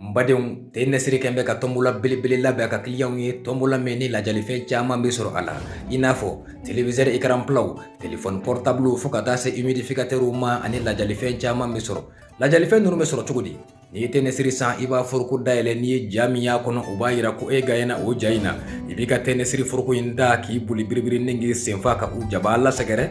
n badenw te nɛsiri kɛn bɛ ka tɔnbɔla belebele labɛn ka kiliyanw ye tɔnbɔla min ni lajalifɛn caman bɛ sɔrɔ a la i n'a fɔ telewisɛri ekaranpilaw telefɔni pɔrɔtabulu fo ka taa se imidifikatɛriw ma ani lajalifɛn caman bɛ sɔrɔ lajalifɛn ninnu bɛ sɔrɔ cogo di n'i ye te nɛsiri san i b'a foroko dayɛlɛ n'i ye ja min y'a kɔnɔ o b'a yira ko e gaɲɛna o ja in na i b'i ka te nɛsiri foroko in ta k'i boli biribiri ni k'i senfa ka u jabaa lasɛgɛrɛ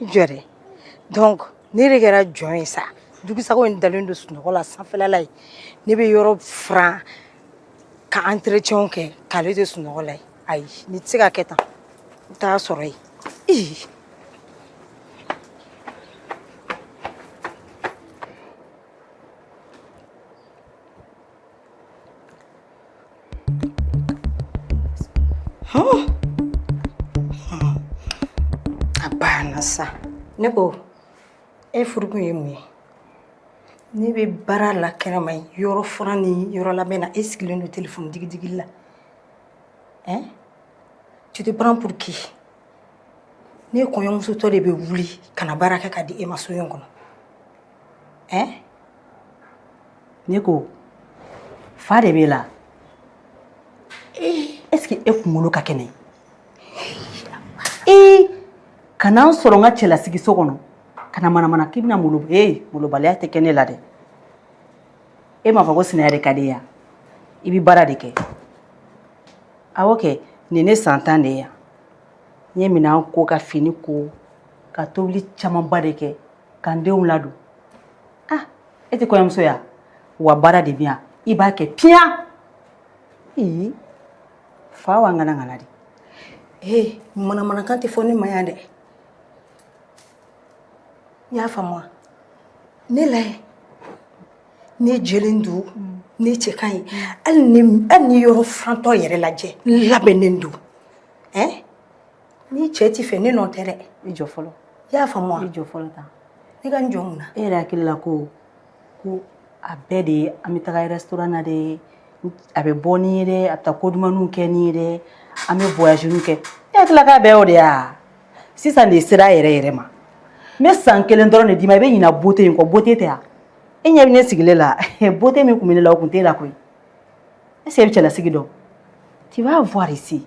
jɛrɛ donc ne de kɛra jɔn ye sa jugusago in dalen don sunɔgɔ la sanfɛla la yen ne bɛ yɔrɔ furan ka entretien kɛ k'ale to sunɔgɔ la yen ayi nin tɛ se ka kɛ tan n t'a sɔrɔ yen ii Oh! Hmm. A banna sa ne ko e furu kun ye mun ye ne bɛ baara la kɛnɛma yen yɔrɔ furan ni yɔrɔ labɛn na e sigilen don telefɔni digidigi la ɛn tu te prends pour qui ne kɔɲɔmusotɔ de bɛ wuli ka na baara kɛ ka di e ma so in kɔnɔ ɛ ne ko fa de b'e la est ce que e kunkolo ka kɛnɛ ee ka na n sɔrɔ n ka cɛlasigi so kɔnɔ ka na manamana k'i bɛna malo ee malobaliya tɛ kɛ ne la dɛ e m'a fɔ ko sinaya de ka di yan i bɛ baara de kɛ awɔ kɛ nin ne san tan de ye yan n ye minɛn ko ka fini ko ka tobili camanba de kɛ ka n denw ladon ah e tɛ kɔɲɔmuso ye wa baara de bɛ yan i b'a kɛ piyan ee fa wa ŋana ŋana de ee manamanakan tɛ fɔ ne ma yan dɛ i y'a faamu wa ne lajɛ ne jɛlen don ne cɛ ka ɲi hali ne hali ne yɔrɔ furantɔ yɛrɛ lajɛ n labɛnnen don ɛn ni cɛ t'i fɛ ne nɔ tɛ dɛ i jɔ fɔlɔ i y'a faamu wa i jɔ fɔlɔ tan ne ka n jɔ mun na e yɛrɛ hakili la ko ko a bɛɛ de ye an bɛ taga restaurant na de a bɛ bɔ n'i ye dɛ a bɛ taa ko dumanniw kɛ n'i ye dɛ an bɛ voyage niw kɛ e hakili la k'a bɛɛ y'o de ye wa sisan de sera a yɛrɛ yɛrɛ ma n bɛ san kelen dɔrɔn de d'i ma i bɛ ɲina beauté in kɔ beauté tɛ wa e ɲɛ bɛ ne sigilen la beauté min tun bɛ ne la o tun t'e la koyi est ce que e bɛ cɛlasigi dɔn tu vas voir ici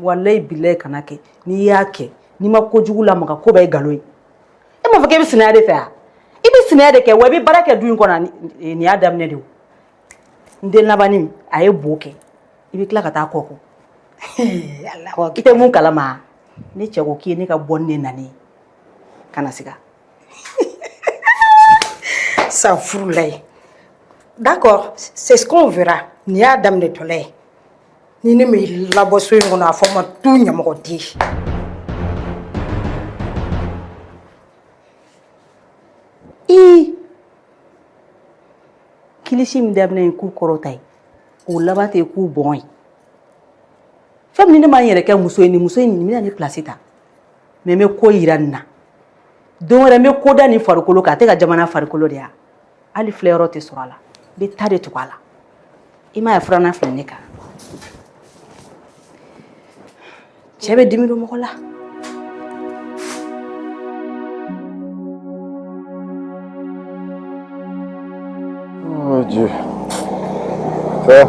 walayi bilayi kana kɛ n'i y'a kɛ n'i ma ko jugu lamaga ko bɛɛ ye nkalon ye e m'a fɔ k' i bɛ sinaya de fɛ yan i bɛ sinaya de kɛ wa i bɛ baara kɛ du in kɔnɔ nin y'a daminɛ de n den labannin a ye bo kɛ i bɛ tila ka taa kɔ ko i tɛ mun kalama ne cɛ ko k'i ye ne ka bonne nani ka na sigi San furula ye d'accord c'est ce qu'on verra nin y'a daminɛ tɔla ye ni ne m'i labɔ so in kɔnɔ a fɔ n ma tu ɲamɔgɔden kilisi min daminɛ ye k'u kɔrɔta ye o laban tɛ k'u bɔn ye fɛn min ne ma n yɛrɛ kɛ muso ye nin muso in nin bɛna ne place ta mais n bɛ ko jira nin na don wɛrɛ n bɛ ko da nin farikolo kan a tɛ ka jamana farikolo de ya hali filɛ yɔrɔ tɛ sɔrɔ a la n bɛ ta de tugu a la i m'a ye filanan filɛ ne kan cɛ bɛ dimi don mɔgɔ la. Oh Dieu. Ça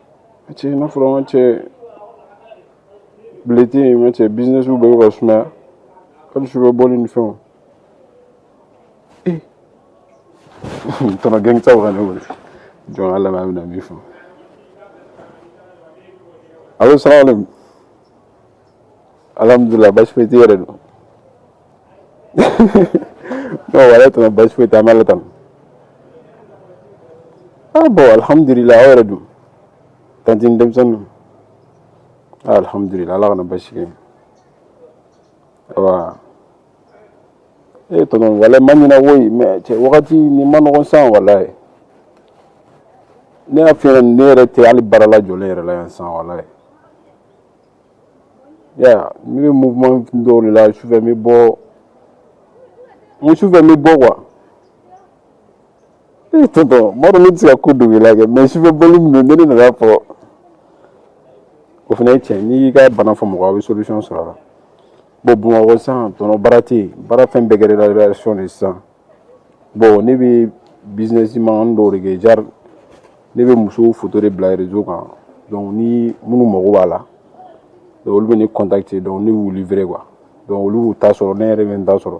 A cɛ n'a fɔra an cɛ bileti in ma cɛ business bɛ ka sumaya hali sufɛ bɔli ni fɛnw tonton gɛnkisɛw ka ne wele jɔn ala b'a bɛna min fɔ allo salamu alaikum alhamdulilayi basi foyi tɛ i yɛrɛ dun non walayi tana basi foyi tɛ an bɛ ala tanu ah bon alihamudulila aw yɛrɛ dun tanti ni denmisɛnninw alihamudulila ala kana basi kɛ awa e tonton walayi n ma ɲinɛ woyi mais cɛ wagati nin man nɔgɔn sa walayi ne y'a f'i ye ne yɛrɛ tɛ hali baara la jɔlen yɛrɛ la yan sa walayi ya ne bɛ mouvement dɔw de la sufɛ n bɛ bɔ sufɛ n bɛ bɔ quoi ee tonton n b'a dɔn ne tɛ se ka ko dogo i la kɛ mais sufɛ bɔli min don ne de nana fɔ o fana ye tiɲɛ n'i y'i ka bana fɔ mɔgɔ a bɛ solution sɔrɔ a la bon Bamakɔ sisan tonton baara tɛ yen baara fɛn bɛɛ kɛra relation de ye sisan bon ne bɛ business man dɔw de kɛ genre ne bɛ musow photo de bila réseau kan donc ni minnu mago b'a la donc olu bɛ ne contacter donc ne b'u livrer quoi donc olu b'u ta sɔrɔ ne yɛrɛ bɛ n ta sɔrɔ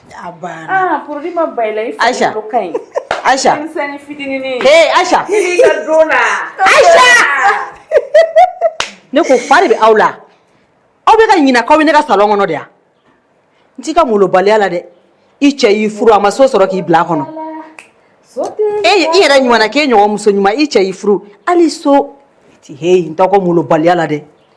Ne ko fa de bɛ aw la aw bɛ ka ɲina k'aw bɛ ne ka salon kɔnɔ de yan n t'i ka molobaliya la dɛ i cɛ y'i furu a ma so sɔrɔ k'i bila a kɔnɔ e i yɛrɛ ɲuman k'e ɲɔgɔn muso ɲuman i cɛ y'i furu hali so tɛ he n t'aw ka molobaliya la dɛ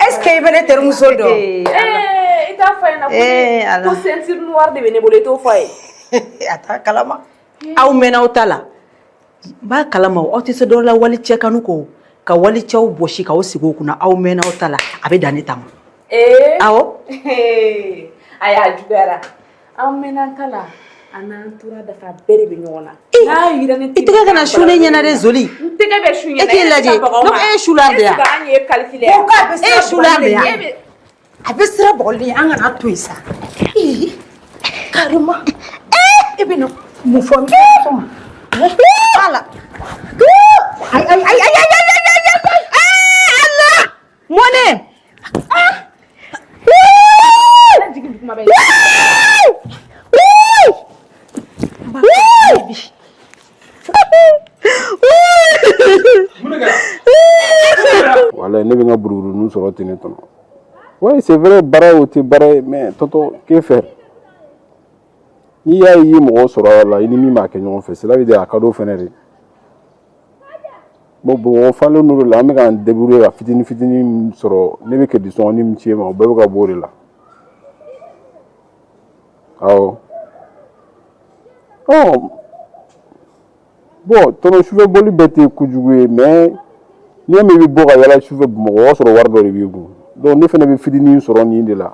Est-ce que i bɛ ne terimuso dɔn i t'a fɔ ɲɛna ko ceinture noire de bɛ ne bolo i t'o fɔ a ye a t'a kalama aw mɛn'aw ta la b'a kalama aw tɛ se dɔ la wali cɛ kanu kɔ ka wali cɛw bɔsi k'aw sigi o kunna aw mɛn'aw ta la a bɛ dan ne ta ma awɔ a y'a juguyara an mɛn'an ta la an n'an tora dafa bɛɛ de bɛ ɲɔgɔn na n'a yira ne i tɛgɛ kana su ne ɲɛna dɛ zoli n tɛgɛ bɛ su ɲɛna e k'i lajɛ donc e ye sula de ye wa an ye calcul ye e ye sula de ye a bɛ sira bɔgɔli an kana to yen sa carrément e bɛ na mun fɔ n bɛ ala ayi ayi ayi ayi mɔnɛ voilà ne bɛ n ka buruburuni sɔrɔ ten ne tɔnɔ oui c'est vrai baara o tɛ baara ye mais tonton que faire n'i y'a ye i ye mɔgɔ sɔrɔ a la i ni min b'a kɛ ɲɔgɔn fɛ cela veut dire a ka d'o fɛnɛ de bon mɔgɔ falen n'o de la an bɛ k'an débrouiller ka fitinin fitinin sɔrɔ ne bɛ crédit sɔngɔnin min ci e ma o bɛɛ bɛ ka bɔ o de la awɔ ɔ bon tonton sufɛ boli bɛɛ tɛ kojugu ye mais n'i y'a mɛn i bɛ bɔ ka yala sufɛ bamakɔ o y'a sɔrɔ wari dɔ de b'i kun donc ne fana bɛ fitinin sɔrɔ nin de la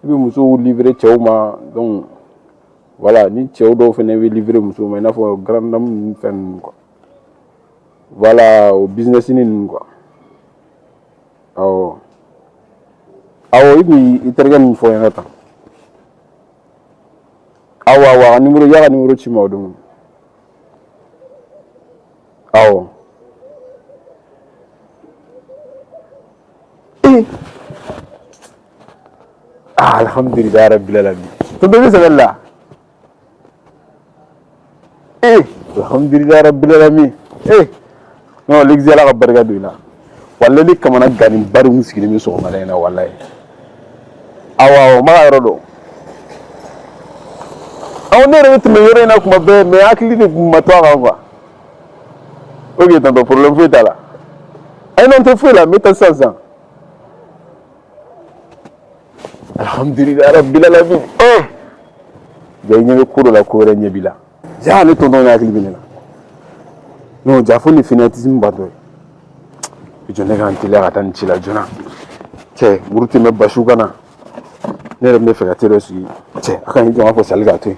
i bɛ musow livrer cɛw ma donc voilà ni cɛw dɔw fana bɛ livrer musow ma i n'a fɔ grande dame ninnu fɛn ninnu quoi voilà o business ninnu quoi awɔ awɔ i kun i terikɛ min fɔ n ɲɛna tan awɔ awɔ a ka nimoro y'a ka nimoro ci i ma o don awɔ ee Ah, alhamdulillah rabbil alamin. Tonton bɛ seli la. Eh, alhamdulillah rabbil alamin. Eh. No, ligzi ala ka barika don i la. Walayi ne kamanagannenba de kun sigilen bɛ sɔgɔmada in na walayi. Awɔ awɔ, n b'a ka yɔrɔ dɔn. Awɔ ne yɛrɛ bɛ tɛmɛ yɔrɔ in na kuma bɛɛ mais hakili de kun ma to a kan quoi. Ok tonton problème foyi t'a la. Ayi non n tɛ foyi la n bɛ taa sisan sisan. Alhamdulillah rabbil alamin ja i ɲɛ bɛ ko dɔ la ko wɛrɛ ɲɛ b'i la ja ne tɔntɔn ne hakili bɛ ne la non ja fo ni fanatisme ba dɔ ye jɔ ne ka n teliya ka taa nin ci la joona cɛ muru tɛ mɛ basiw kana ne yɛrɛ bɛ fɛ ka te dɔ sigi cɛ a ka ɲi jɔ n k'a fɔ sali k'a to yen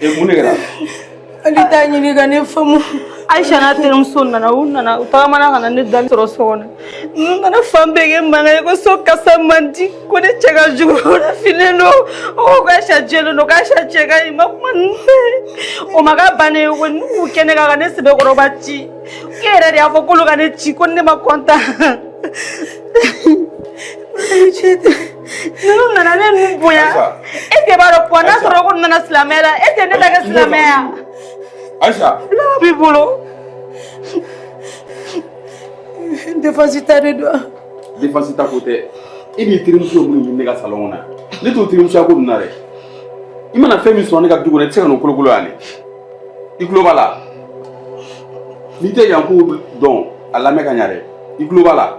E mun de kɛra ale t'a ɲini ka ne faamu ayisa n'a terimuso nana u nana u tagamana ka na ne dalen sɔrɔ so kɔnɔ ninnu nana fan bɛɛ kɛ mankan ye ko so kasa man di ko ne cɛ ka jugu ko ne finnen don o ko k'ayisa jɛlen don k'ayisa cɛ ka ɲi ma kuma ninnu fɛ o ma k'a bannen ye ko ninnu y'u kɛ ne kan ka ne sɛbɛkɔrɔba ci k'e yɛrɛ de y'a fɔ k'olu ka ne ci ko ne ma kɔntan Ninnu nana ne ninnu bonya e tɛ b'a dɔn kuwa n'a sɔrɔ ko nana silamɛya la e tɛ ne ta kɛ silamɛya Ayisa ala b'i bolo défense ta de don défense ta ko tɛ e b'i terimuso minnu ɲini ne ka salɔn kɔnɔ ne t'o terimusoya ko ninnu na dɛ i mana fɛn min sɔrɔ ne ka du kɔnɔ i tɛ se ka n'o kolokolo yan dɛ i tulo b'a la n'i tɛ yan ko dɔn a lamɛn ka ɲa dɛ i tulo b'a la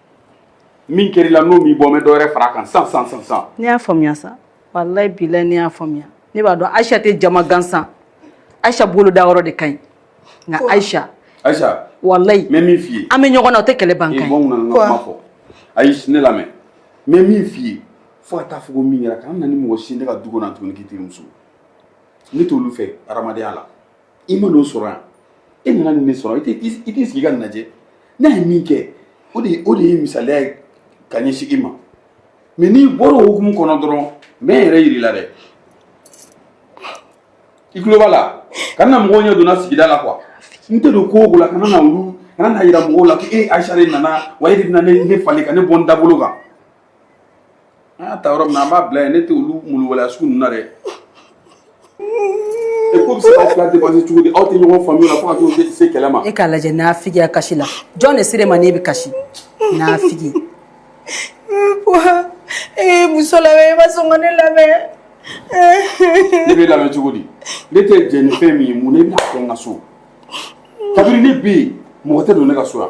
min kɛra i la n'o m'i bɔ n bɛ dɔ wɛrɛ fara a kan sisan sisan ne y'a faamuya sa walayi bilayi ne y'a faamuya ne b'a dɔn ayisa tɛ jama gansan ayisa bolo da yɔrɔ de ka ɲi nka ayisa ayisa walayi n bɛ min f'i ye an bɛ ɲɔgɔn na o tɛ kɛlɛ ban ee kan bɔ n kunna n ka kuma fɔ ayi ne lamɛn n bɛ min f'i ye fo ka taa fɔ ko min kɛra kana na ni mɔgɔ si ye ne ka du kɔnɔ yan tuguni k'i terimuso ne t'olu fɛ hadamadenya la i ma n'o sɔrɔ yan e nana nin ne sɔrɔ i t'i sigi ka nin lajɛ ne ye min kɛ o de o de ye misaliya ye ka ɲɛsin i ma mɛ n'i bɔra o hukumu kɔnɔ dɔrɔn n bɛ n yɛrɛ yir'i la dɛ i tulo b'a la kana mɔgɔw ɲɛ don n na sigida la kuwa n tɛ don ko o ko la kana na olu kana n'a yira mɔgɔw la ko e ayisa de nana wa e de bɛna ne falen ka ne bɔ n dabolo kan an y'a ta yɔrɔ min na an b'a bila yen ne tɛ olu malobaliya sugu ninnu na dɛ e ko bɛ se k'aw fila dépasser cogo di aw tɛ ɲɔgɔn faamuya o la fo ka t'o se kɛlɛ ma. e k'a lajɛ naafigiya kasi la jɔn de ser'e ma n'e bɛ kasi naafigi. ee muso lamɛn i ma sɔn ka ne lamɛn. ne b'e lamɛn cogo di ne tɛ jɛ ni fɛn min ye mun na i bɛn'a kɛ n ka so kabini ne bɛ yen mɔgɔ tɛ don ne ka so yan.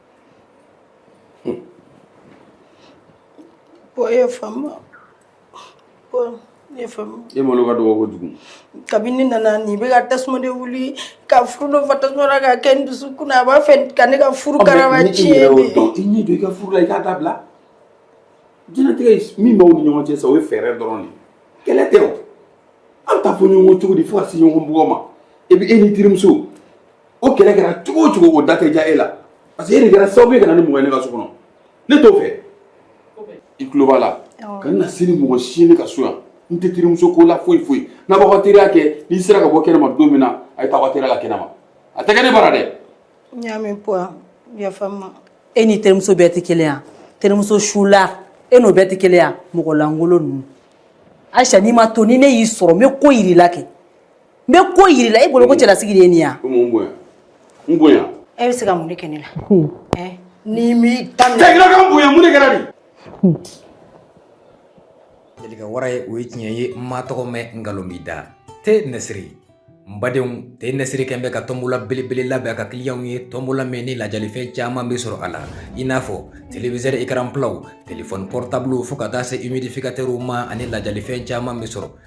ye faamu ne faamu e malo ka dɔgɔ kojugu kabini n nana nin bɛ ka tasuma de wuli ka furunɔ fa tasuma la ka kɛ n dusukun na a b'a fɛ ka ne ka furu karaba tiɲɛ de i ɲɛ don i ka furu la i k'a dabila diɲɛlatigɛ min b'aw ni ɲɔgɔn cɛ sa o ye fɛɛrɛ dɔrɔn de kɛlɛ tɛ o an ta fɔ ɲɔgɔn cogo di fo ka se ɲɔgɔn bugɔ ma e bɛ e ni terimuso o kɛlɛ kɛra cogo o cogo o da tɛ diya e la parce que e de kɛra sababu ye ka na ni mɔgɔ ye ne ka so kɔnɔ ne t'o fɛ i tulo b'a la ka na se ni mɔgɔ si ye ne ka so yan n tɛ terimuso ko la foyi foyi n'a b'aw ka teriya kɛ n'i sera ka bɔ kɛnɛma don min na a ye taa aw ka teriya la kɛnɛma a tɛ kɛ ne bara dɛ n y'a mɛn buwa yafa n ma e ni terimuso bɛɛ tɛ kelen yan terimuso sula e n'o bɛɛ tɛ kelen yan mɔgɔ lankolon ninnu ayisa n'i ma to ni ne y'i sɔrɔ n bɛ ko yir'i la kɛ n bɛ ko yir'i la e bolo ko cɛlasigi de ye nin ye yan n bonya e bɛ se ka mun de kɛ ne la n'i m'i da minɛ tɛgɛla ka bonya mun de kɛra de jelika wara ye o ye tiɲɛ ye n ma tɔgɔ mɛn nkalon b'i da te nɛsiri n badenw te nɛsiri kɛn bɛ ka tɔnbola belebele labɛn a ka kiliyanw ye tɔnbola min ni lajalifɛn caman bɛ sɔrɔ a la i n'a fɔ téléviseur écran platw telefɔni portable fo ka taa se humidificateurw ma ani lajalifɛn caman bɛ sɔrɔ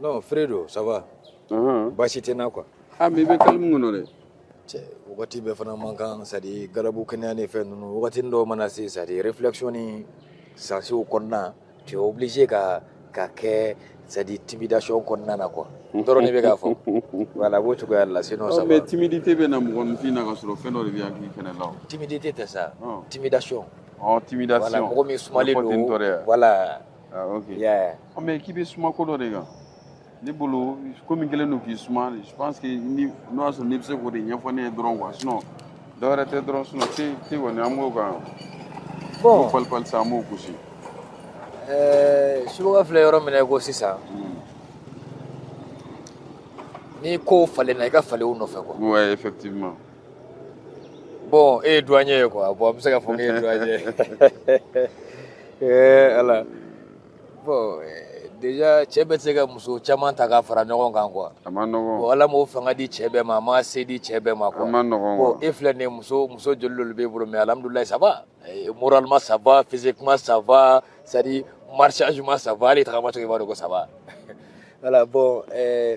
non fredo ça va Unhun. baasi tɛ n na quoi Ah, mais i bɛ calme kɔnɔ dɛ. cɛ wagati bɛɛ fana man kan c'est à dire galabu kɛnɛya ni fɛn ninnu wagati dɔw mana se c'est à dire réflexion ni sansew kɔnɔna tu es obligé ka ka kɛ c'est à dire timidation kɔnɔna na quoi dɔrɔn ne bɛ k'a fɔ voilà a b'o cogoya de la sinon ça Non, va mais timidité bɛ na mɔgɔninfin na ka sɔrɔ fɛn dɔ de bɛ hakili fɛnɛ la o. timidité tɛ sa Ɔn. timidation Ɔ, voilà timidation. mɔgɔ min sumalen Mɔgɔ tɛ n tɔɔrɔ don yan. voilà Ah, ok. Yeah. Oh, mais k'i bɛ suma ko dɔ de kan. Ne bolo komi n kɛlen don k'i suma je pense que n'o y'a sɔrɔ n'i bɛ se k'o de ɲɛfɔ ne ye dɔrɔn quoi sinon dɔ wɛrɛ tɛ dɔrɔn sinon te te kɔni an b'o kan. Bon. Ko falenfalen sa an b'o gosi. Ɛɛ subaga filɛ yɔrɔ min na i ko sisan. Hmm. N'i kow falenna i ka falenw nɔfɛ quoi. Ouais effectivement. bon e ye duwaɲɛ ye quoi bon an bɛ se k'a fɔ k'e ye duwaɲɛ ye ee ala bon déjà cɛ bɛ se ka muso caman ta ka fara ɲɔgɔn kan quoi a man nɔgɔn bon ala m'o fanga di cɛ bɛɛ ma a ma se di cɛ bɛɛ ma quoi a man nɔgɔn bon e filɛ nin ye muso muso joli de b'e bolo mais alhamdulilayi ça va moralement ça va physiquement ça va c'est à dire marchagement ça va hali tagamacogo i b'a dɔn ko ça va voilà bon euh,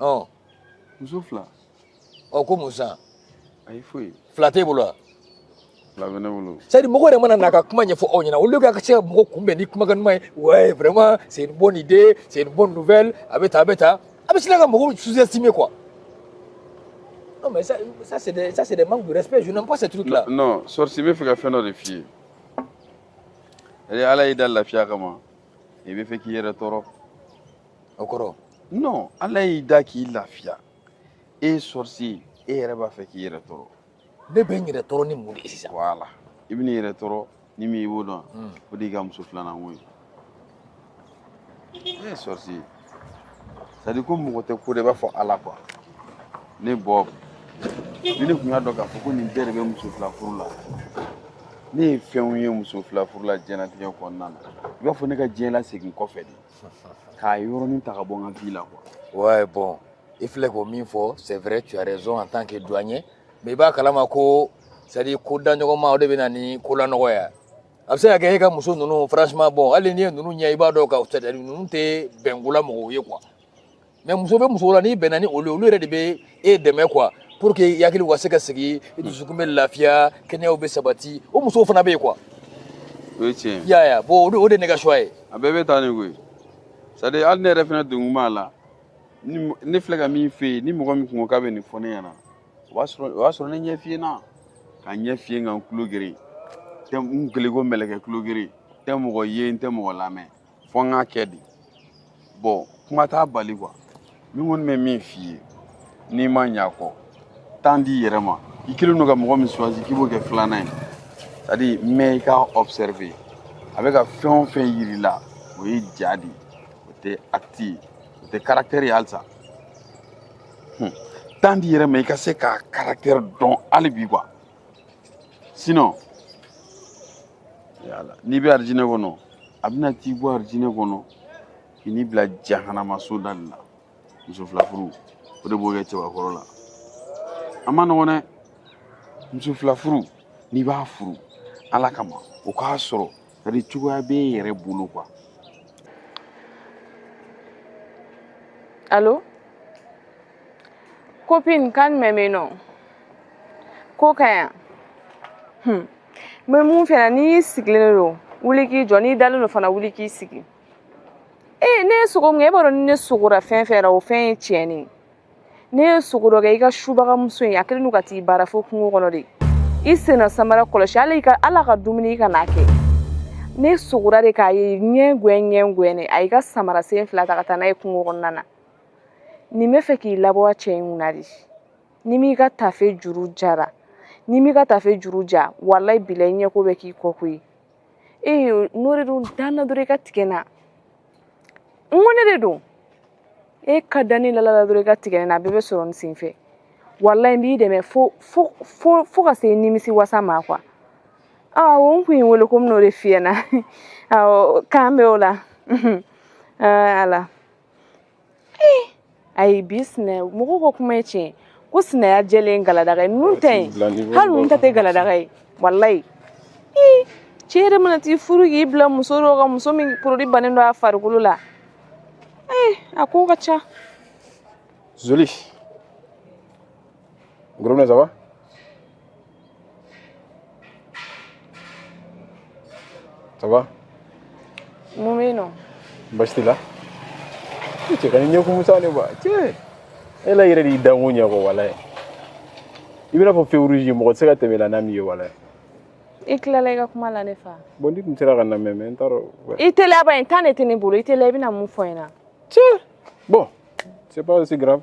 ɔ muso fila ɔ ko mun san ayi foyi fila t'e bolo wa fila bɛ ne bolo c'est à dire mɔgɔ yɛrɛ mana na ka kuma ɲɛfɔ aw ɲɛna olu ka se ka mɔgɔ kunbɛn ni kumakan ɲuman ye ouais vraiment c'est une bonne idée c'est une bonne nouvelle a bɛ tan a bɛ tan a bɛ sina ka mɔgɔw sous-estimer quoi non mais ça ça c'est des ça c'est des manques de respect je n'aime pas ces trucs là non sorcier bɛ fɛ ka fɛn dɔ de f'i ye ɛɛ ala y'i da lafiya kama i bɛ fɛ k'i yɛrɛ tɔɔrɔ o kɔrɔ non ala y'i da k'i lafiya e sorcier e yɛrɛ b'a fɛ k'i yɛrɛ tɔɔrɔ ne bɛ n yɛrɛ tɔɔrɔ ni mun de ye sisan voilà i bɛn'i yɛrɛ tɔɔrɔ ni min i b'o dɔn o de y'i ka muso filanan ko ye sorcier c'est à dire ko mɔgɔ tɛ ko dɔn i b'a fɔ ala quoi ne bob ni ne tun y'a dɔn k'a fɔ ko nin bɛɛ de bɛ muso fila furu la ne ye fɛnw ye muso fila furu la diɲɛlatigɛ kɔnɔna na i b'a fɔ ne ka diɲɛ lasegin kɔfɛ de k'a yɔrɔnin ta ka bɔ n ka vie la quoi ouais bon i filɛ ko min fɔ c'est vrai tu as raison en tant que douanier mais i b'a kalama ko c'est à dire ko da ɲɔgɔn ma o de bɛ na ni ko lanɔgɔya a bɛ se ka kɛ e ka muso ninnu franchement bon hali n'i ye ninnu ɲɛ i b'a dɔn ka c'est à dire ninnu tɛ bɛnkola mɔgɔw ye quoi mais muso bɛ muso la n'i bɛnna ni olu ye olu yɛrɛ de bɛ e dɛmɛ quoi pour que i hakili ka se ka sigi i dusukun bɛ lafiya kɛnɛyaw bɛ sabati o musow fana bɛ yen quoi o ye tiɲɛ ye i y'a ye bon o de- o de ye ne ka choix ye a bɛɛ bɛ taa ni koyi c'est à dire hali ne yɛrɛ fana donkun b'a la ni mɔ- ne filɛ ka min f'e ye ni mɔgɔ min tun ko k'a bɛ nin fɔ ne ɲɛna o b'a sɔrɔ o y'a sɔrɔ ne ɲɛ fiyenna ka ɲɛ fiyen ka n tulo geren n kɛlen ko mɛlɛkɛ tulo geren n tɛ mɔgɔ ye n tɛ mɔgɔ lamɛn fo n k'a kɛ de bon kuma t'a bali quoi min kɔni bɛ min f'i ye n'i ma ɲa kɔ temps d'i yɛrɛ ma i kɛlen don ka mɔgɔ min choisir k'i b'o kɛ filanan ye c'est à dire mais i k'a observer a bɛ ka fɛn o fɛn yir'i la o ye ja de ye o tɛ acte ye o tɛ caractère ye halisa temps d'i yɛrɛ ma i ka se k'a caractère dɔn hali bi quoi sinon n'i bɛ arijinɛ kɔnɔ a bɛna t'i bɔ arijinɛ kɔnɔ ka n'i bila jahanamaso da de la muso fila furu o de b'o kɛ cɛbakɔrɔ la a ma nɔgɔn dɛ muso fila furu n'i b'a furu ala kama o k'a sɔrɔ c'est à dire cogoya bɛ e yɛrɛ bolo quoi allô Copine, quand même non. Ko ka ɲi? Hmm. N bɛ min f'e ɲɛna, n'i sigilen don wuli k'i jɔ n'i dalen don fana wuli k'i sigi ee ne ye sugo min kɛ e b'a dɔn ni ne sugora fɛn fɛn na o fɛn ye tiɲɛ de ye ne ye sugo dɔ kɛ i ka subagamuso in a kɛlen don ka t'i baara fo kungo kɔnɔ de i senna samara kɔlɔsi hali ka ala ka dumuni kana kɛ ne sugora de k'a ye ɲɛ gɛn ɲɛ gɛn a y'i ka samara sen fila ta ka taa n'a ye kungo kɔnɔna na nin b'a fɛ k'i labɔ cɛ in kunna de n'i m'i ka tafe juru jara n'i m'i ka tafe juru ja walayi bilayi ɲɛko bɛ k'i kɔ koyi e n'o de don da n na dɔrɔn i ka tigɛ n na n ko ne de don e ka da ne lala dɔrɔn i ka tigɛ ne na a bɛɛ bɛ sɔrɔ nin sen fɛ walayi n b'i dɛmɛ fo fo fo fo ka se nimisi wasa ma quoi awɔ n tun y'e wele ko n bɛn'o de f'i ɲɛna awɔ k'an bɛn o la ala ayi bi sinɛ mɔgɔw ka kuma ye tiɲɛ ko sinaya jɛlen galadaga ye ninnu ta ye hali ninnu ta tɛ galadaga ye walayi cɛ yɛrɛ mana t'i furu k'i bila muso dɔ kan muso min produit bannen don a farikolo la a ko ka ca zoli gorobinɛ ça va Ça va Mun bɛ yen nɔ Baasi t'i la I cɛ kan'i ɲɛ kumu sa ne ba cɛ e la yɛrɛ de y'i danko ɲɛ kɔ wala ye i b'i n'a fɔ feu rouge mɔgɔ tɛ se ka tɛmɛ i la n'a m'i ye voilà i tilala i ka kuma la ne fa bon n'i tun sera ka n lamɛn mais n t'a dɔn i teliya ba in temps de tɛ ne bolo i teliya i bɛna mun fɔ n ɲɛna cɛ bon c'est pas aussi grave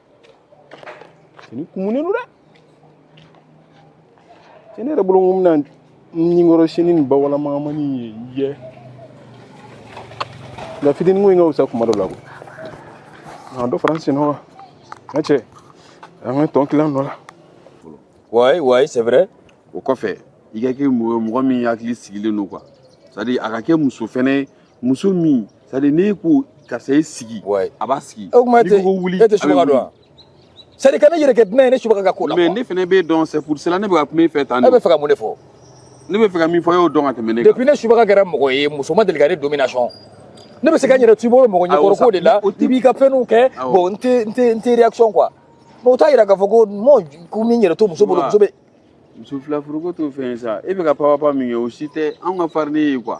i ɲɛ kumunen don dɛ cɛ ne yɛrɛ bolo ko n bɛna ɲinkɔrɔ sini nin bawalamangamani ye yɛ nka fitinin ko in ka fisa kuma dɔ la ko n ka dɔ fara n senɔ kan n ka cɛ an ka tɔn kilan nɔ la ouais ouais c'est vrai o kɔfɛ i ka kɛ mɔgɔ mɔgɔ min hakili sigilen don quoi c'est à dire a ka kɛ muso fɛnɛ ye muso min c'est à dire n'e ko karisa i sigi Ouais. a b'a sigi o tuma e n'i tɛ ko ko wuli e tɛ a bɛ subaga dɔn wuli. wa c'est à dire kan'i yɛrɛ kɛ dunan ye ne subaga ka ko la mais quoi. ne fana b'e dɔn c'est pour cela ne bɛ ka kuma e fɛ tan e de bɛ fɛ ka mun de fɔ ne bɛ fɛ ka min fɔ e y'o dɔn ka tɛmɛ ne kan depuis ne subaga kɛra mɔgɔ ye muso ma deli ka ne domination ne bɛ se ka n yɛrɛ to i bolo mɔgɔ Awɔ, ɲɛkɔrɔ ko de la o tɛ- i b'i ka fɛnw kɛ Awɔ. bon n tɛ n tɛ n tɛ réaction quoi mais o t'a yira k'a fɔ ko mɔ ko n bɛ n yɛrɛ to muso bolo Wa. muso bɛ muso fila furuko t'o fɛn ye sa e bɛ ka papapa min kɛ o si tɛ anw ka farini ye quoi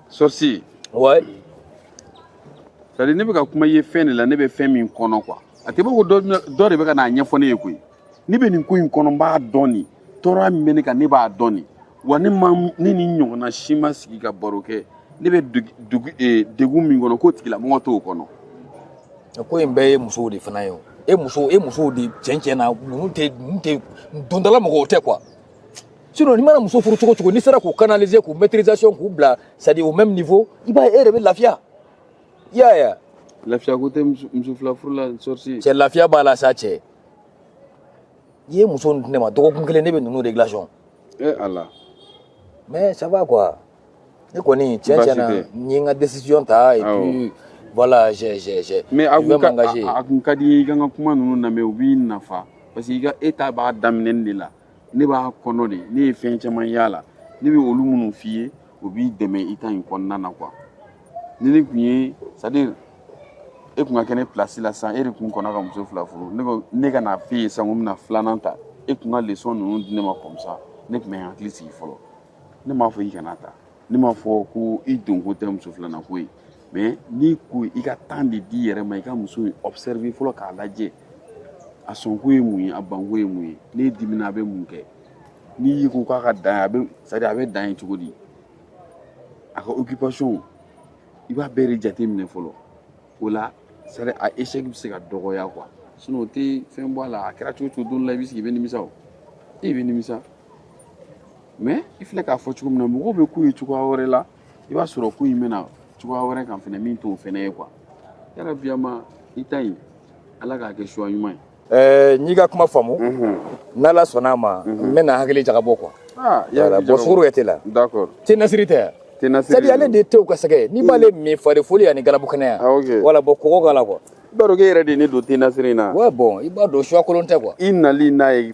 Sorcier. Ouais. C'est à dire ne bɛ ka kuma i ye fɛn de la ne bɛ fɛn min kɔnɔ quoi a tɛ bɔ ko dɔ dɔ de bɛ ka n'a ɲɛfɔ ne ye koyi ne bɛ nin ko in kɔnɔ n b'a dɔn nin tɔɔrɔya min bɛ ne kan ne b'a dɔn nin wa ne ma ne ni ɲɔgɔnna si ma sigi ka baro kɛ ne bɛ dugu degun min kɔnɔ k'o tigilamɔgɔ t'o kɔnɔ. ko in bɛɛ ye musow de fana ye o e muso e musow de cɛn cɛn na ninnu tɛ ninnu tɛ dondala mɔgɔw tɛ quoi. sinon n'i mana muso furu cogo cogo n'i sera k'u canaliser k'u maîtrisation k'u bila c'est à dire au même niveau i b'a ye e yɛrɛ bɛ lafiya i y'a ye lafiya ko tɛ muso fila furu la sorcier cɛ lafiya b'a la sa cɛ i ye muso ninnu di ne ma dɔgɔkun kelen ne bɛ ninnu réglation e eh, ala mais ça va quoi ne kɔni tiɲɛ tiɲɛ na n ye n ka décision ta et puis voilà j'ai j'ai j'ai mais a kun ka a kun ka di i ka n ka kuma ninnu lamɛn u b'i nafa parce que i ka e ta b'a daminɛni de la ne b'a kɔnɔ de ne ye fɛn caman y'a la ne bɛ olu minnu f'i ye o b'i dɛmɛ i ta in kɔnɔna na quoi ni ne tun ye c'est à dire e tun ka kɛ ne place la sisan e de tun kɔnna ka muso fila furu ne ko ne ka n'a f'e ye sisan ko n bɛna filanan ta e tun ka leçon ninnu di ne ma comme ça ne tun bɛ n hakili sigi fɔlɔ ne m'a fɔ i kana ta ne m'a fɔ ko i donko tɛ muso filanan ko ye mais n'i ko i ka temps de d'i yɛrɛ ma i ka muso in observer fɔlɔ k'a lajɛ a sɔnko ye mun ye a banko ye mun ye n'e dimina a bɛ mun kɛ n'i y'i ko k'a ka dan a bɛ c'est-à-dire a bɛ dan ye cogo di a ka occupation i b'a bɛɛ de jate minɛ fɔlɔ o la c'est-à-dire a échec bɛ se ka dɔgɔya quoi sinon o tɛ fɛn bɔ a la a kɛra cogo o cogo don la i bɛ sigi i bɛ nimisa o e bɛ nimisa mais i filɛ k'a fɔ cogo min na mɔgɔw bɛ k'u ye cogoya wɛrɛ la i b'a sɔrɔ ko in bɛ na cogoya wɛrɛ kan fɛnɛ min t'o fɛnɛ ye quoi yala biyama i ta ɲi ala k'a kɛ choix ɲuman ye Eh, n'i ka kuma faamu mhm. n'ala sɔnna a ma mhm. n bɛna hakili jagabɔ quoi ah, bon sukaro kɛ te la te nasiri tɛ c'est-à-dire ale de tew ka sɛgɛ n'i b'ale min fari foni ani galabu kɛnɛya ah, voilà bon kɔgɔ k'a la quoi i b'a dɔn k'e yɛrɛ de ye ne don te nasiri in na ouais bon i b'a dɔn choix kolon tɛ quoi i nali n'a ye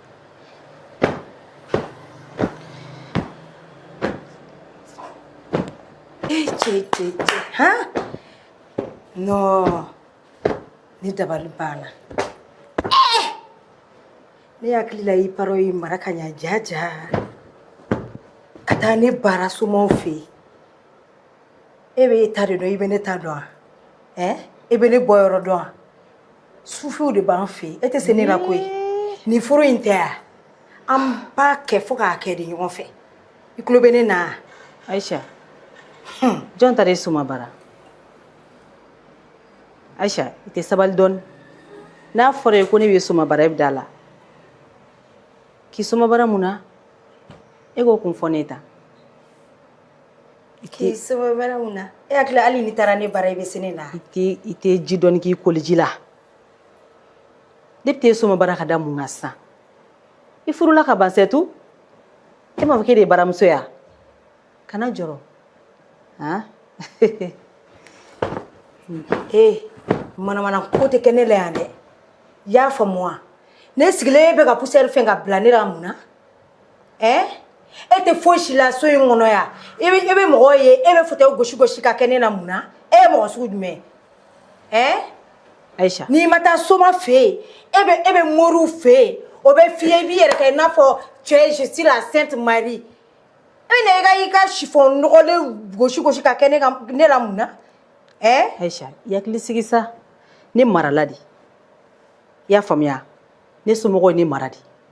Non, ne dabali banna. Ne hakili la i parents y'i mara ka ɲa ja ja ka taa ne baara somaw fɛ yen e bɛ e ta de dɔn i bɛ ne ta dɔn wa ɛ e bɛ ne bɔ yɔrɔ dɔn wa sufiw de b'an fɛ yen e tɛ se ne la koyi nin furu in tɛ wa an b'a kɛ fo k'a kɛ de ɲɔgɔn fɛ i tulo bɛ ne na wa. ayisa jɔn taara e soma baara ayisa i tɛ sabali dɔɔni n'a fɔra i ye ko ne b'e soma baara i bɛ da a la k'i soma baara mun na e k'o kun fɔ ne ye tan k'i soma baara mun na e hakili hali n'i taara ne baara i bɛ se ne na i tɛ i tɛ ji dɔɔni k'i koliji la ne bɛ t'e soma baara ka da mun kan sisan i furula ka ban c'est tout e m'a fɔ k'e de ye baramuso ye wa kana jɔrɔ han ee manamana ko tɛ kɛ ne la yan dɛ i y'a faamu wa ne sigilen e bɛ ka poussière fɛn ka bila ne la mun na ɛ e tɛ foyi si la so in kɔnɔ yan i bɛ i bɛ mɔgɔ ye e bɛ fauteuil gosi gosi ka kɛ ne na mun na e ye mɔgɔ sugu jumɛn ye ɛ ayisa n'i ma taa soma fɛ yen e bɛ e bɛ moriw fɛ yen o bɛ f'i ye i b'i yɛrɛ kɛ i n'a fɔ tu es je suis la sainte marie e bɛ na i ka i ka chiffon nɔgɔlen gosi gosi ka kɛ ne ka ne la mun na ɛ ayisa i hakili sigi sa ne marala de i y'a faamuya ne somɔgɔw ye ne mara de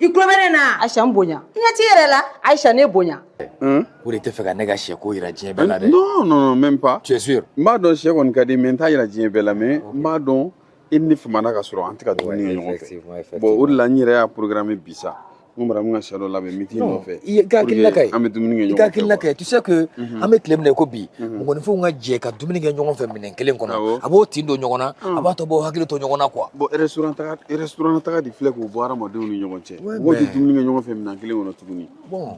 i tulo bɛ ne na wa? Ayisa n bonya I ɲɛ t'i yɛrɛ la. Ayisa ne bonya O de tɛ fɛ ka ne ka sɛ ko jira diɲɛ bɛɛ la dɛ. Non, non, non, même pas. Tu es sûr? N b'a dɔn sɛ kɔni ka di mais n t'a jira diɲɛ bɛɛ la mais n b'a dɔn i ni ne famana ka sɔrɔ an tɛ ka dumuni kɛ ɲɔgɔn effectivement, fɛ effectivement. bon o de la n yɛrɛ y'a programmé bi sa n ko Maramu ka sɛ dɔ labɛn n bɛ t'i Non, nɔfɛ i ye- i ka hakilina ka ɲi. an bɛ dumuni kɛ I ka ɲɔgɔn fɛ hakilina quoi. ka ɲi tu sais que an bɛ tile min na i ko bi mɔgɔninfinw ka jɛ ka dumuni kɛ ɲɔgɔn fɛ minɛn kelen kɔnɔ a b'u tin don ɲɔgɔn na a b'a to u b'u hakili to ɲɔgɔn na quoi bon restaurant taga restaurant taga de filɛ k'o bɔ hadamadenw ni ɲɔgɔn cɛ mɔgɔw tɛ dumuni kɛ ɲɔgɔn fɛ minɛn kelen kɔnɔ tuguni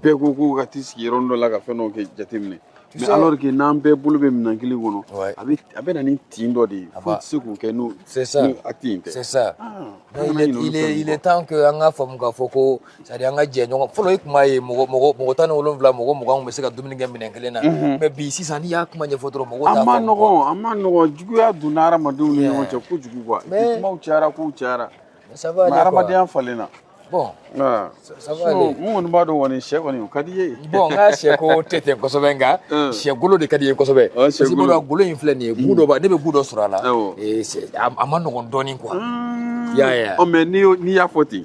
bɛɛ ko k'u ka t'i sigi yɔrɔnin dɔ la ka fɛn dɔw kɛ jateminɛ mais alors que n'an bɛɛ bolo bɛ minɛn kelen kɔnɔ a bɛ a bɛ na ni tin dɔ de ye foyi tɛ se k'o kɛ n'o acte in tɛ c'est ça ah, il est temps que an k'a faamu k'a fɔ ko c'est-à-dire an ka jɛ ɲɔgɔn fɔlɔ i tun b'a ye mɔgɔ mɔgɔ mɔgɔ tan ni wolonwula mɔgɔ mugan bɛ se ka dumuni kɛ minɛn kelen na mais bi sisan n'i y'a kuma ɲɛfɔ dɔrɔn mɔgɔ a ma nɔgɔn a ma nɔgɔn juguya donna hadamadenw ni ɲɔgɔn cɛ kojugu quoi kumaw cayara kow cayara hadamadenya falenna bon n kɔni b'a dɔn kɔni sɛ kɔni ka d'i ye bon n ka sɛ ko tɛ ten kosɛbɛ nka sɛ golo de ka di n ye kosɛbɛ golo in filɛ nin ye goût dɔ ne bɛ goût dɔ sɔrɔ a la a ma nɔgɔn dɔɔnin quoi ya mais n'i y'a fɔ ten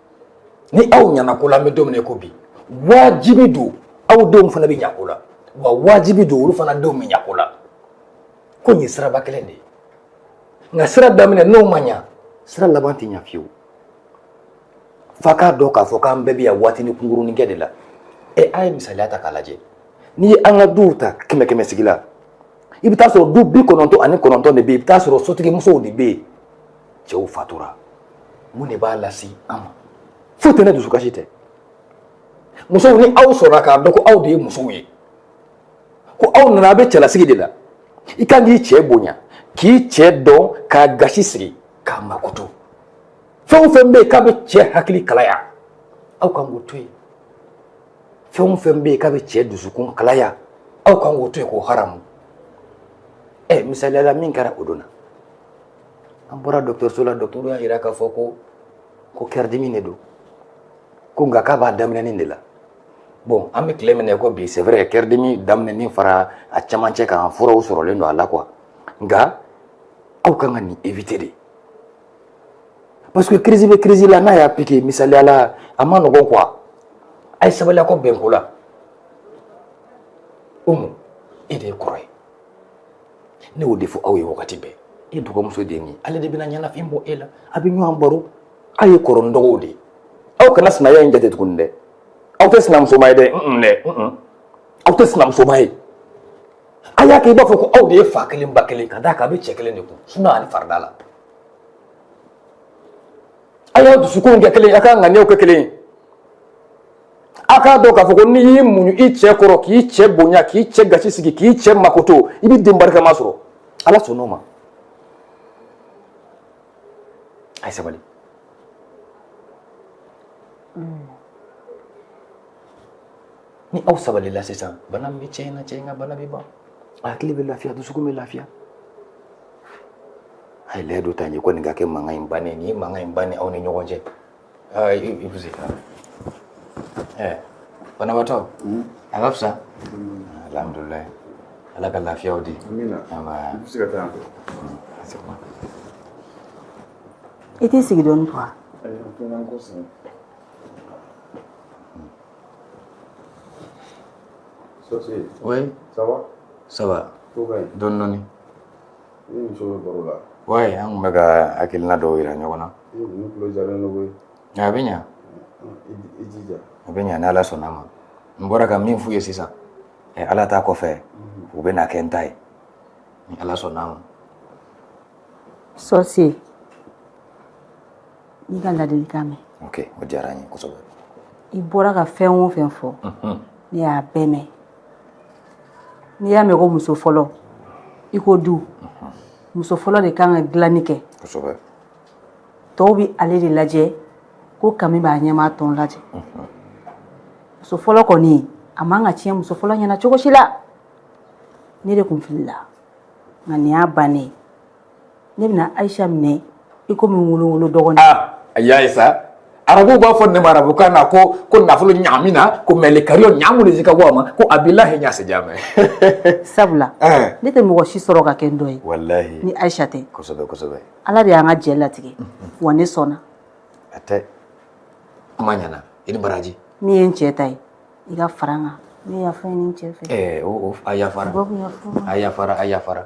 ni aw ɲana ko la an bɛ don min na ko bi wajibi don aw denw fana bɛ ɲa ko la wa wajibi don olu fana denw bɛ ɲa ko la ko nin ye siraba kelen de ye nka sira daminɛ n'o ma ɲa sira laban tɛ ɲa fiyewu f'a k'a dɔn k'a fɔ k'an bɛɛ bɛ yan waatini kunkurunin kɛ de la ɛ a ye misaliya ta k'a lajɛ n'i ye an ka duw ta kɛmɛ kɛmɛ sigi la i bɛ t'a sɔrɔ du bi kɔnɔntɔn ani kɔnɔntɔn de bɛ yen i bɛ t'a sɔrɔ sotigimusow de bɛ yen cɛw fatura mun de b'a lase an ma foyi tɛ ni dusukasi tɛ musow ni aw sɔrɔla k'a dɔn ko aw de ye musow ye ko aw nana aw bɛ cɛlasigi de la i kan k'i cɛ bonya k'i cɛ dɔn k'a gasi sigi k'a makoto fɛn o fɛn bɛ yen k'a bɛ cɛ hakili kalaya aw kan k'o to yen fɛn o fɛn bɛ yen k'a bɛ cɛ dusukun kalaya aw kan k'o to yen k'o haramu ɛ misaliyala min kɛra o don na an bɔra dɔgɔtɔrɔso la dɔgɔtɔrɔ y'a jira k'a fɔ ko kɛridimi de don ko nka k'a b'a daminɛnin de la bon an bɛ tile min na ko bi c'est vrai kɛridimi daminɛnin fara a camancɛ kan furaw sɔrɔlen don a la quoi nka aw kan ka nin éviter dɛ parce que crise bɛ crise la n'a y'a piqué misaliya la a ma nɔgɔn quoi a ye sabali aw ka bɛn ko la Umu e de ye kɔrɔ ye ne y'o de fɔ aw ye wagati bɛɛ e dɔgɔmuso de ye nin ale de bɛna ɲɛnafin bɔ e la a bɛ ɲɔgɔn baro aw ye kɔrɔ ni dɔgɔw de ye aw kana sinaya in jate tuguni dɛ aw tɛ sinamusoma ye dɛ aw tɛ sinamusoma ye a y'a kɛ i b'a fɔ ko aw de ye fa kelen ba kelen ka d'a kan a bɛ cɛ kelen de kun suna ani farida la a y'a dusukun kɛ kelen ye a ka ŋaniyaw kɛ kelen ye A k'a dɔn k'a fɔ ko n'i y'i muɲu i cɛ kɔrɔ k'i cɛ bonya k'i cɛ gasi sigi k'i cɛ makoto i bɛ den barikama sɔrɔ Ala sɔnn'o ma a ye sabali ni aw sabalila sisan bana min bɛ cɛ in na cɛ in ka bana bɛ ban a hakili bɛ lafiya dusukun bɛ lafiya a ye layidu ta n ye ko nin ka kɛ mankan in bannen nin ye mankan in bannen aw ni ɲɔgɔn cɛ Ah, eh, banabaatɔ hmm? a ka fisa alhamdulilayi ala ka lafiya di i t'i sigi dɔɔni quoi Oui. Ça va Ça va. Dɔɔni dɔɔni. wa an tun bɛ ka hakilina dɔw yira ɲɔgɔn na a bɛ ɲɛ a bɛ ɲɛ ni ala sɔnna a ma n bɔra ka min f'u ye sisan ɛ ala ta kɔfɛ u bɛ na kɛ n ta ye ni ala sɔnna a ma sɔsi n y'i ka ladilikan mɛn o diyara n ye i bɔra ka fɛn o fɛn fɔ ne y'a bɛɛ mɛn n'i y'a mɛn ko muso fɔlɔ i ko du muso fɔlɔ de kan ka dilanni kɛ tɔw bɛ ale de lajɛ ko kami b'a ɲɛmaa tɔn lajɛ muso fɔlɔ kɔni a man ka tiɲɛ muso fɔlɔ ɲɛna cogo si la ne de kun filila nka nin y'a bannen ne bɛna ayisa minɛ i komi n wolo wolo dɔgɔ a y'a ye sa arabuw b'a fɔ ne ma arabukan na ko ko nafolo ɲaami na ko mɛli kari ɲaamu de ka bɔ a ma ko a b'i lahi ɲa sɛja mɛ sabula ne tɛ mɔgɔ si sɔrɔ ka kɛ n dɔgɔ ye walahi ni ayisa tɛ kosɛbɛ kosɛbɛ ala de y'an ka jɛ latigɛ wa ne sɔnna a tɛ kuma ɲana i ni baraji min ye n cɛ ta ye i ka fara n kan ne yafa ɲini n cɛ fɛ ɛɛ a yafara a yafara a yafara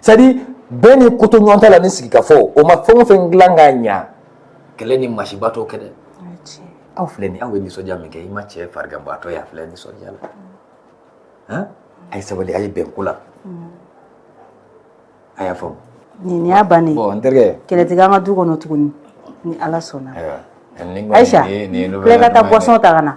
c'est à dire bɛn ni kotoɲɔgɔntala ni sigikafɔ o ma fɛn o fɛn dilan k'a ɲa kɛlɛ ni masiba t'o kɛ dɛ aw filɛ nin aw ye nisɔndiya min kɛ i macɛ fariganbaatɔ ye a filɛ nisɔndiya la han a ye sabali a ye bɛn ko la a y'a faamu nin y'a bannen bon n terikɛ kɛlɛ tɛ k'an ka du kɔnɔ tuguni ni ala sɔnna ayiwa ayisa filɛ ka taa boisson ta ka na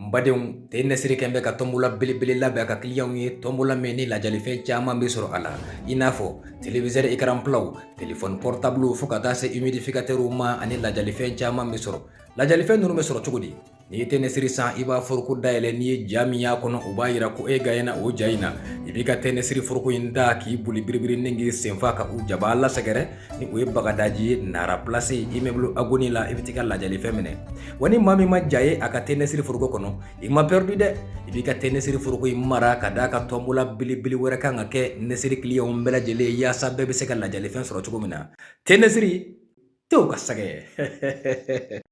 N badenw te nɛsiri kɛlen bɛ ka tɔnbola belebele labɛn a ka kiliyanw ye tɔnbola min ni lajalifɛn caman bɛ sɔrɔ a la i n'a fɔ televizɛri ekaranpilaw telefɔni pɔritabuluw fo ka taa se imidifikatɛriw ma ani lajalifɛn caman bɛ sɔrɔ lajalifɛn ninnu bɛ sɔrɔ cogo di n'i ye te nɛsiri san i b'a foroko dayɛlɛn n'i ye ja min y'a kɔnɔ o b'a yira ko e gaɲena o ja in na i b'i ka te nɛsiri foroko in ta k'i boli biribiri ni k'i senfa ka u jabaa la sɛgɛrɛ ni o ye bagadaji ye nara plasi imɛbulu agoni la i bɛ t'i ka lajalifɛn minɛ wa ni maa min ma ja ye a ka te nɛsiri foroko kɔnɔ i ma pɛridi dɛ i b'i ka te nɛsiri foroko in mara ka d'a kan tɔnbola belebele wɛrɛ kan ka kɛ nɛsiri kiliyanw bɛɛ lajɛlen yaasa bɛɛ bɛ se ka lajalifɛn sɔrɔ cogo min na te nɛsiri tew ka sɛgɛ